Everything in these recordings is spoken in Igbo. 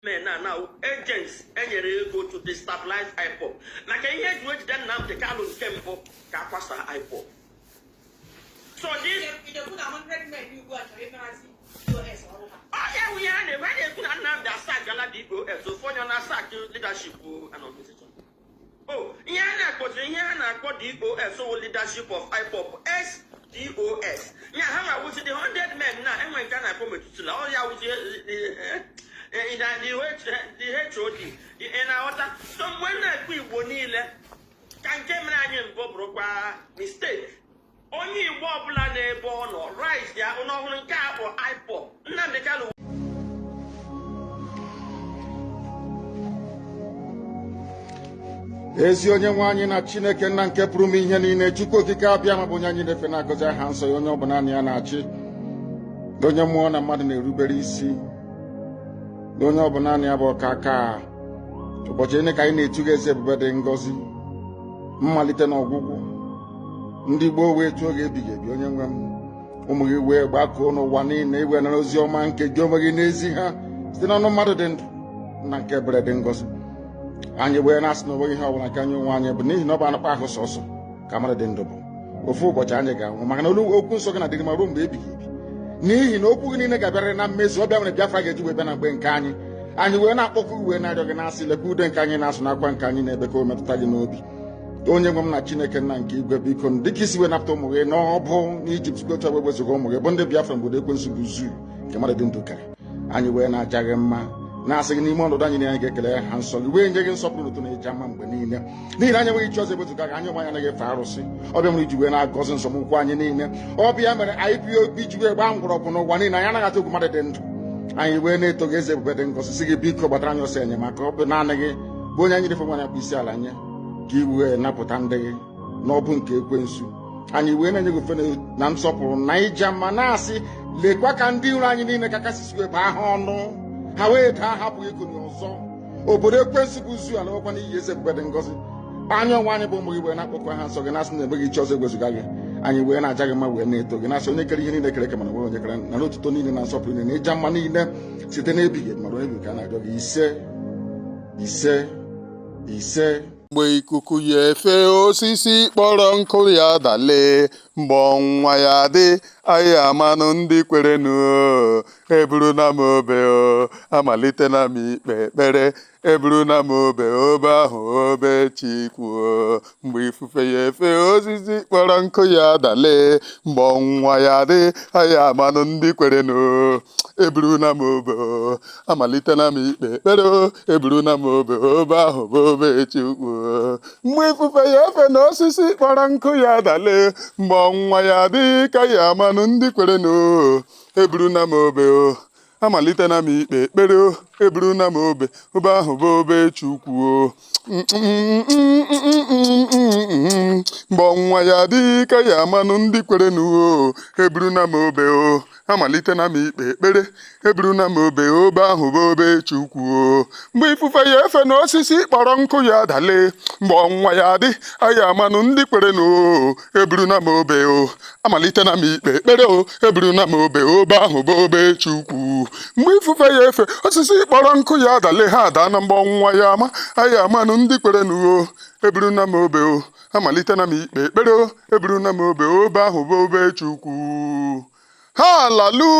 men are now agents enyere ego to destabilize IPOB maka ihe eji wee jide Nnamdi Kanu nke mbụ ka a kwasaa IPOB so this ọya nwunye ha na-ebe a na-ekwu na Nnamdi asackgala DOS ofu onye ọ na-asack leadership n'organization Oh, ihe a na-akpọzi ihe a na-akpọ DOS wụ leadership of IPOB is DOS ya hanwa wụzi the 100 men na enwe nke a na-akpọ metụtụ na ọ ya wụzi the HOD ị na-aghọta so mgbe m na-ekwu Igbo niile ka nke mere anyị mbụ bụrụkwa mistake onye Igbo ọbụla n'ebe ọ nọ rise ya ụlọ ọhụrụ nke a bụ IPOB Nnamdi Kanu ezi onye nwe anyị na Chineke nna nke pụrụ ime ihe niile Chukwu Okike Abịama bụ onye anyị na-efe na-agọzi aha nsọ ya onye ọ bụ naanị ya na-achị onye mmụọ na mmadụ na-erubere isi onye ọ bụ naanị ya bụ ọkaaka ụbọchị niile ka anyị na-eto gị eze ebube dị ngọzi mmalite na ọgwụgwụ ndị gboo wee too gị ebighị ebi onye nwe m ụmụ gị wee gbakọọ n'ụwa niile i wee nara ozi ọma nke gị onwe gị na-ezi ha site n'ọnụ mmadụ dị ndụ nna nke ebere dị ngọzi anyị wee na-asị na onweghị ihe ọbụla nke anyị onwe anyị bụ n'ihi na ọ bụ anụkpa ahụ sọsọ ka mmadụ dị ndụ bụ ofu ụbọchị anyị ga-anwụ maka na olu okwu nsọ gị na-adịrị maruo mgbe ebighị ebi n'ihi na okwu gị niile ga-abịarịrị na mmezu ọ bụ ya mere Biafra ga-eji wee bịa na mgbe nke anyị anyị wee na-akpọku wee na-arịọ gị na-asị lekwa ude nke anyị na-asụ na akwa nke anyị na-ebe ka o metụta gị n'obi onye nwe m na Chineke nna nke igwe biko dị ka i si wee napụta ụmụ gị n'ọbụ n'Ijipt otu a kwa wezuga ụmụ gị bụ ndị Biafra n'obodo ekwensu bụ zoo nke mmadụ dị ndụ kere anyị wee na-aja gị mma na-asị gị n'ime ọnọdụ anyị na anyị ga-ekele aha nsọ gị wee nye gị nsọpụrụ otuto na ịja mma mgbe niile n'ihi na anyị enweghị chi ọzọ ebezuga gị anyị onwe anyị anaghị efe arụsị ọ bụ ya mere i ji wee na-agọzi nzọmụkwụ anyị niile ọ bụ ya mere IPOB ji wee gbaa mgbọrọgwụ n'ụwa niile anyị anaghị atụ egwu mmadụ dị ndụ anyị wee na-eto gị eze ebube dị ngọzi sị gị biko gbatara anyị ọsọ enyemaka ọ bụ naanị gị bụ onye anyị na-efe onye anyị na-akpọ isi ala nye ka i wee napụta ndị gị n'ọbụ nke ekwensu anyị wee na-enye gị ofufe na nsọpụrụ na ịja mma na-asị lekwa ka ndị iro anyị niile ka ka i si wee bụọ ha ọnụ ha wee daa ha apụghị ikuni ọzọ obodo ekwensu bụ zoo alaakwa n'iyi eze ebube dị ngọzi anyị onwe anyị bụ ụmụ gị wee na-akpọku aha nsọ gị na-asị na enweghị chi ọzọ ewezuga gị anyị wee na-aja gị mma wee na-eto gị na-asị onye kere ihe niile kere eke mana enweghị onye kere nara otuto niile na nsọpụrụ niile na ịja mma niile site n'ebighị ebi maruo n'ebighị ebi ka a na-arịọ gị isee isee isee mgbe ikuku ya efe osisi kpọrọ nkụ ya dale mgbe ọnwa ya dị anyị amanụ ndị kwerenụ eburuna m obe o amalitena m ikpe ekpere eburuna m obe obe ahụ obe chukwu o mgbe ifufe ya efe osisi kpọrọ nkụ ya dale mgbe ọnwụnwa ya dị anyị amanụ ndị kwerenụ eburuna m obe o amalitena m ikpe ekpere o eburuna m obe obe ahụ bụ obe chukwu o mgbe ifufe ya efe na osisi kpọrọ nkụ ya dale mgbe ọnwụnwa ya dị ka ya amanụ ndị kwerenụ eburuna m obe o amalitena m ikpe ekpere o eburuna m obe obe ahụ bụ obe chukwu o mgbe ọnwa ya dị ka ya amanụ ndị kwerenụ o eburuna m obe o amalitena m ikpe ekpere eburuna m obe obe ahụ bụ obe chukwu o mgbe ifufe ya efe na osisi kpọrọ nkụ ya dale mgbe ọnwa ya dị a ya amanụ ndị kwerenụ o eburuna m obe o amalitena m ikpe ekpere o eburuna m obe obe ahụ bụ obe chukwu mgbe ifufe ya efe osisi kpọrọ nkụ ya adale ha ada na mgbe ọnwụnwa ya ama anyị amanụ ndị kwerenụ o eburuna m obe o amalitena m ikpe ekpere o eburuna m obe obe ahụ bụ obe chukwu halelu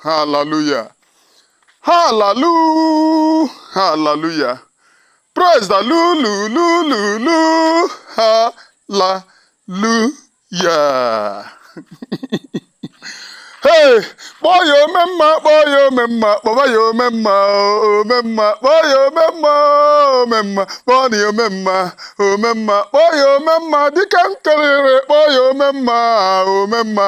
haleluya halelu haleluya Praise the lu lu lu lu lu ha la lu ya. Hey, kpọọ ya ome mma, kpọọ ya ome mma, kpọba ya ome mma, o, ome mma, kpọọ ya ome mma, o, ome mma, kpọọ na ya ome mma, ome mma, kpọọ ya ome mma, dịka m kelere, kpọọ ya ome mma, ome mma.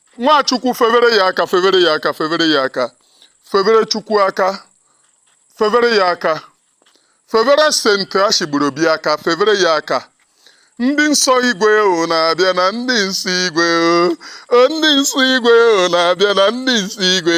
Nwachukwu febere ya aka febere ya aka febere ya aka febere Chukwu aka febere ya aka febere senti ashigburu obi aka febere ya aka ndị nsọ igwe unu abịana ndị nsọ igwe o ndị nsọ igwe unu abịana ndị nsọ igwe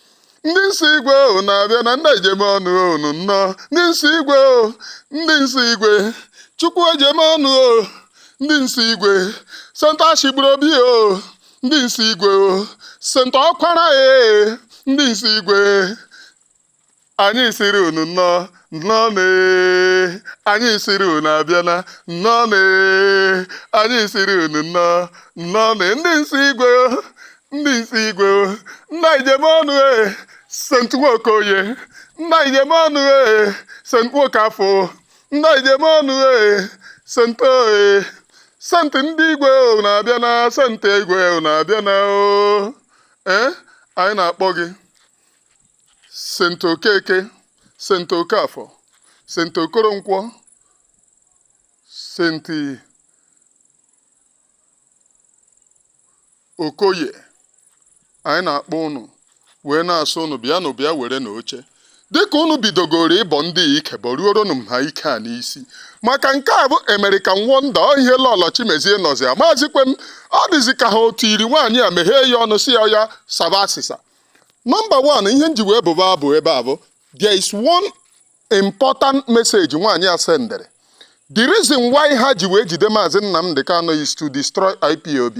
ndị nsọ igwe unu abịana ndị e ji eme ọnụ unu nnọọ ndị nsọ igwe o ndị nsọ igwe chukwu ji eme ọnụ o ndị nsọ igwe sent ashigburu obi o ndị nsọ igwe o sent ọkwara e ndị nsọ igwe anyị siri unu nnọọ nnọọ nee anyị sịrị unu abịana nnọọnụ ee anyị siri unu nnọọ nnọọ nee ndị nsọ igwe o ndị nsọ igwe o, nna e ji eme ọnụ e sent nwokoye nna e ji eme ọnụ e sent nwokafọ nna e ji eme ọnụ e sent oe sent ndị igwe unu abịana sent igwe unu abịana o ee anyị na-akpọ gị sent okeke sent okafọ sent okoronkwọ senti Okoye anyị na-akpọ ụnụ wee na-asị ụnụ bịanụ bịa werenụ oche dịka ụnụ bidogoro ịbọ ndị a ike bọruoronụ m ha ike a n'isi maka nke a bụ American Wonder ọ ihe Lọlọ Chimezie nọzi amazikwe m ọ dịzi ka ha otu iri nwaanyị a meghee ya ọnụ sị ya ya saba asịsa nọmba wan ihe nji wee bụba abụ ebe a bụ There is one important message nwaanyị a sendere. The reason why ha ji wee jide Maazị Nnamdi Kanu is to destroy IPOB.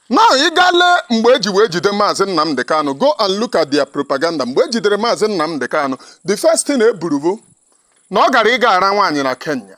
Now ị gaa lee mgbe e ji wee jide Maazị Nnamdi Kanu go and look at their propaganda mgbe e jidere Maazị Nnamdi Kanu the first thing e buru bụ na ọ gara ịga ara nwaanyị na Kenya.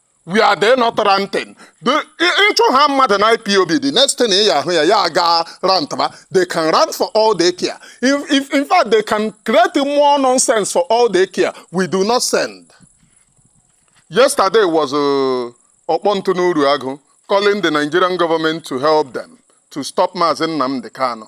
we are there not ranting ị chụhaa mmadụ na IPOB the next thing ị ahụ ya ya ga rantba they can rant for all they care if, in fact they can create more nonsense for all they care we do not send yesterday was uh, ọkpọntụ n'Uruagụ calling the nigerian government to help them to stop Mazi Nnamdi Kanu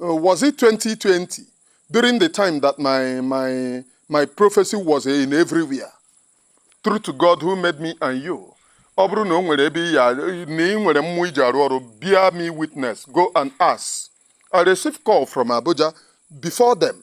Uh, was it 2020 during the time that my my my prophecy was in everywhere? True to God who made me and you. Ọ bụrụ na o nwere ebe ya na ị nwere mmụọ i ji arụ ọrụ bear me witness go and ask. I received call from Abuja before them.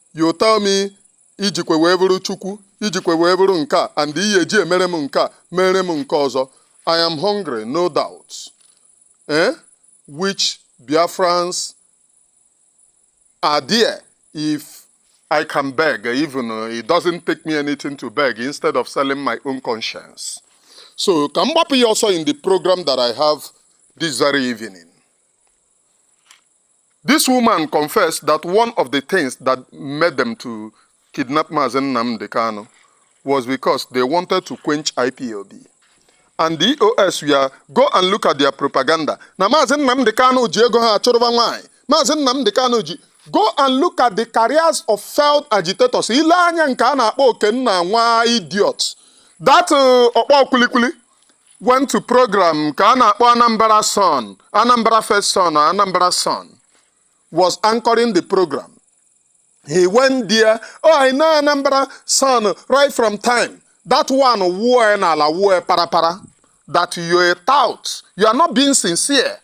you tell me ijikwe wee bụrụ chukwu ijikwe wee bụrụ nke a and iyi eji emere m nke a mere m nke ọzọ i am hungry no doubt eh? which biafrans are there if i can beg even it doesn't take me anything to beg instead of selling my own conscience so ka m gbapụ ya ọsọ in the program that i have this very evening This woman confessed that one of the things that made them to kidnap Mazi Nnamdi Kanu was because they wanted to quench IPOB. And the EOS were, go and look at their propaganda. Na Mazi Nnamdi Kanu ji ego ha achụrụba nwaanyị. Mazi Nnamdi Kanu ji go and look at the careers of failed agitators. I lee anya nke a na-akpọ Okenna nwa idiot. That uh, ọkpọ kwilikwili went to program nke a na-akpọ Anambra Sun Anambra First Sun or Anambra Sun was anchoring the program he went there oh I know Anambra Sun right from time that one wuo ya n'ala wuo ya parapara that you're a tout you are not being sincere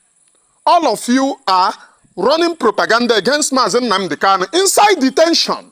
all of you are running propaganda against Mazi Nnamdi Kanu inside detention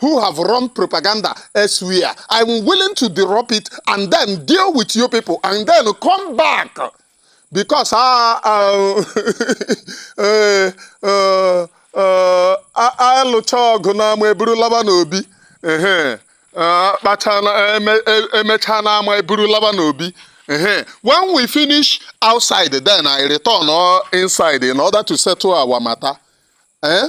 who have run propaganda elsewhere. I'm willing to drop it and then deal with you people and then come back. Because I, uh, uh, uh, uh, I, alụcha ọgụ n'ama eburu laba n'obi emechaa n'ama eburu laba n'obi when we finish outside then I return inside in order to settle our matter. Eh?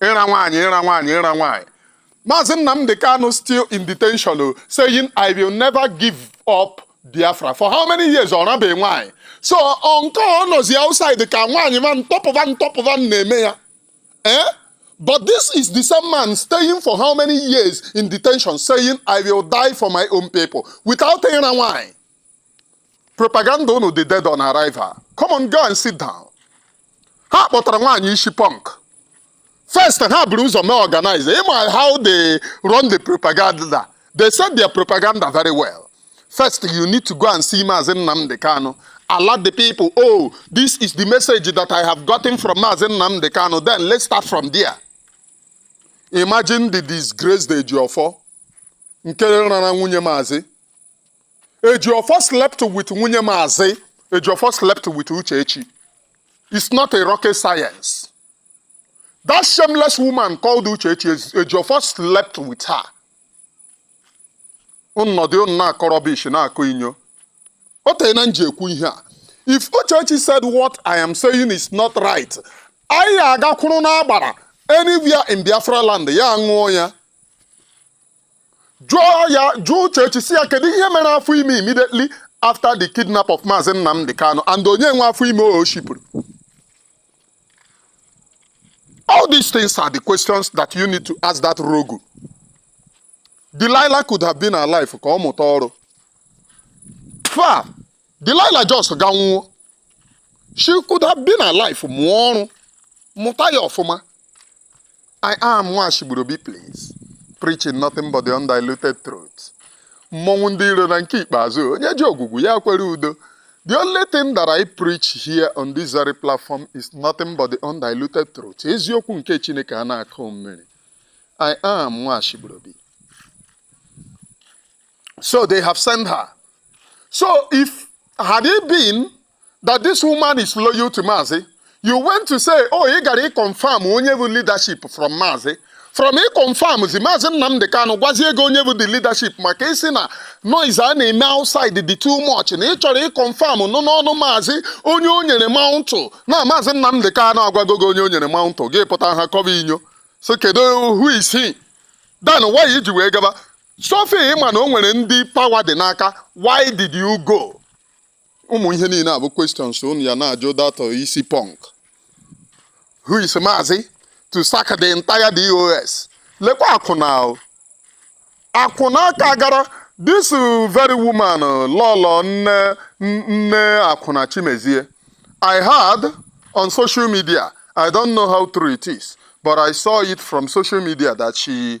ịra nwaanyị ịra nwaanyị ịra nwaanyị Maazị Nnamdi Kanu still in detention o saying I will never give up Biafra for how many years ọ rabeghị nwaanyị so ọ nke ọ nọzi outside ka nwaanyị ma ntọpụva ntọpụva na-eme ya eh but this is the same man staying for how many years in detention saying I will die for my own people without ịra nwaanyị propaganda unu dị dead on arrival come on go and sit down ha kpọtara nwaanyị isi punk first ha buru ụzọ mee organize ịma how they run the propaganda they said their propaganda very well first you need to go and see Maazị Nnamdi Kanu alert the people oh this is the message that I have gotten from Maazị Nnamdi Kanu then let's start from there imagine the disgrace the Ejiofor nke rara nwunye maazị Ejiofor slept with nwunye maazị Ejiofor slept with Uchechi. It's not a rocket science. That shameless woman called Uchechi Ejiofor slept with her. Nọdụnụ na-akọ rubbish na-akọ inyo. O teena m ji ekwu ihe a. If Uchechi said what I am saying is not right, anyị agakwuru n'agbara anywhere in Biafra land ya ṅụọ ya. jụọ ya jụọ Uchechi sị ya kedu ihe mere afọ ime immediately after the kidnap of Maazị Nnamdi Kanu and onye nwe afọ ime o shipụrụ all these things are the questions that you need to ask that rogue Delilah could have been alive ka ọ mụta ọrụ fa Delilah just gaa nwụọ she could have been alive mụọ ọrụ mụta ya ọfụma i am nwa ashigburobi please preaching nothing but the undiluted truth mmọnwụ ndị iro na nke ikpeazụ onye ji ogwugwu ya kwere udo the only thing that i preach here on this very platform is nothing but the undiluted truth eziokwu nke chineke a na-akụ mmiri i am nwa ashigburobi So they have sent her. So if had it been that this woman is loyal to Mazi, you went to say, oh, you got to confirm onye bụ leadership from Mazi. From he confirms, Mazi Nnamdi Kanu gwazie gị onye bụ the leadership maka ị sị na noise a na-eme outside dị too much na ị chọrọ ị confirm nụ n'ọnụ maazị onye o nyere mantle na maazị Nnamdị Kanu agwago gị onye o nyere mantle gị pụta ha kọba inyo so kedu who is he then why i ji wee gaba So if ị ma na o nwere ndị power dị n'aka why did you go? ụmụ ihe niile a bụ questions unu ya na-ajụ that isi punk who is maazị to sack the entire DOS lekwa akwụna o. akwụna ka gara this very woman lọlọ nne akwụna chimezie i heard on social media i don't know how true it is but i saw it from social media that she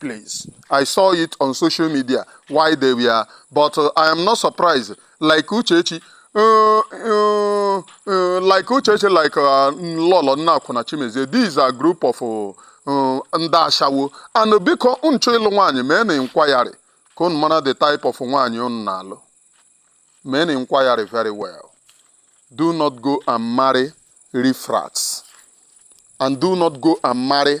place. I saw it on social media why they were, but uh, I am not surprised. Like Uchechi, uh, uh, uh, like Uchechi, like uh, Lolo Nneakwụna Chimezie, these are group of uh, uh, ndị ashawo and biko unu chọọ ịlụ nwaanyị meenụ inquiry ka unu mara the type of nwaanyị unu na-alụ meenụ inquiry very well do not go and marry riffraffs and do not go and marry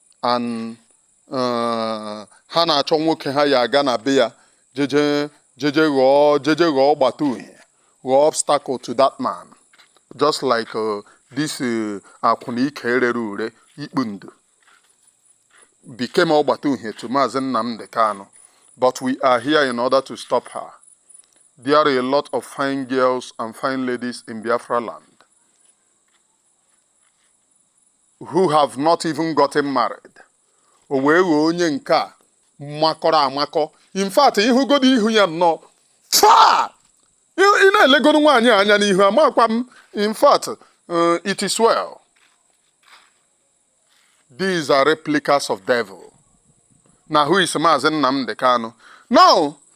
and uh, ha na-achọ nwoke ha ya aga na be ya jeje jeje ghọọ jeje ghọọ ọgbata uhie ghọọ obstacle to that man just like uh, this uh, akwụna ike rere ure ikpu ndụ became ọgbata uhie to Maazị Nnamdi Kanu but we are here in order to stop her there are a lot of fine girls and fine ladies in Biafra land who have not even gotten married o wee ghọọ onye nke a makọrọ amakọ in fact ịhụgodo ihu ya nnọọ faa ị na-elegoro nwaanyị a anya n'ihu amakwa m in fact uh, it is well these are replicas of devil na who is Maazị Nnamdi Kanu now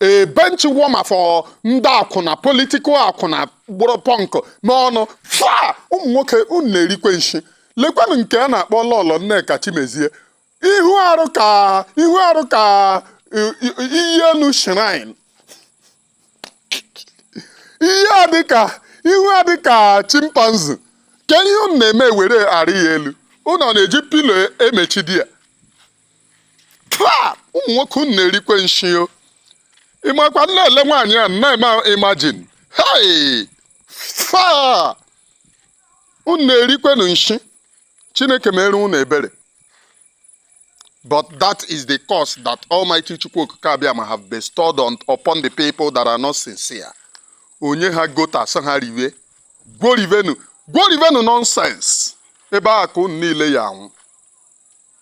a bench warmer for ndị akwụna political akwụna gbụrụ pọnk n'ọnụ fa ụmụ nwoke unu na-erikwe nshi lekwanụ nke a na-akpọ lọlọ nneka chimezie ihu arụ ka ihu arụ ka i- i- iyi elu shrine ihe a dịka ihu a dịka chimpanzee kee ihe unu na-eme were arị ya elu unu ọ na-eji pillow emechidi ya faa ụmụ nwoke unu na-erikwe nshi o ịmakwa m na-ele nwaanyị a na-eme imagine hei faa unu na-erikwenu nshi chineke mere unu ebere But that is the curse that Almighty Chukwu Okike Abịama have bestowed on, upon the people that are not sincere. Onye ha gota sị ha riwe ngwa rivenụ ngwa rivenụ nonsense ebe a ka unu niile ya anwụ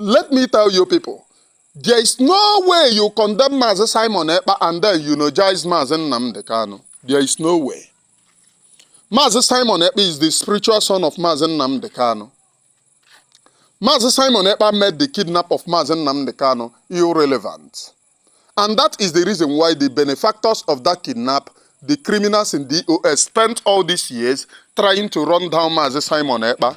let me tell you people there is no way you condemn Mazi Simon Ekpa and then you eulogize Mazi Nnamdi Kanu there is no way Mazi Simon Ekpa is the spiritual son of Mazi Nnamdi Kanu Mazi Simon Ekpa made the kidnap of Mazi Nnamdi Kanu irrelevant and that is the reason why the benefactors of that kidnap the criminals in DOS spent all these years trying to run down Mazi Simon Ekpa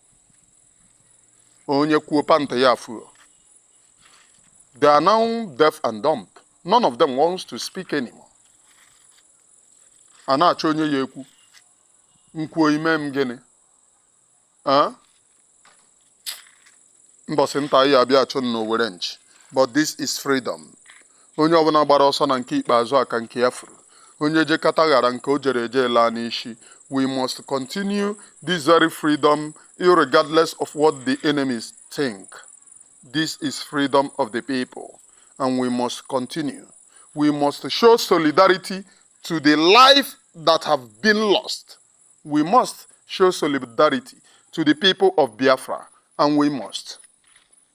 onye kwuo pant ya fuo they are now deaf and dumb none of them wants to speak anymore a na-achọ onye ya ekwu m kwuo i mee m gịnị Ah? mbọsị nta anyị abịa chụọ n'owere nchi but this is freedom Onye ọbụna gbara ọsọ na nke ikpeazụ a ka nke ya furu. Onye jekata ghara nke o jere eje laa n'ishi. We must continue this very freedom irregardless of what the enemies think. This is freedom of the people and we must continue. We must show solidarity to the life that have been lost. We must show solidarity to the people of Biafra and we must.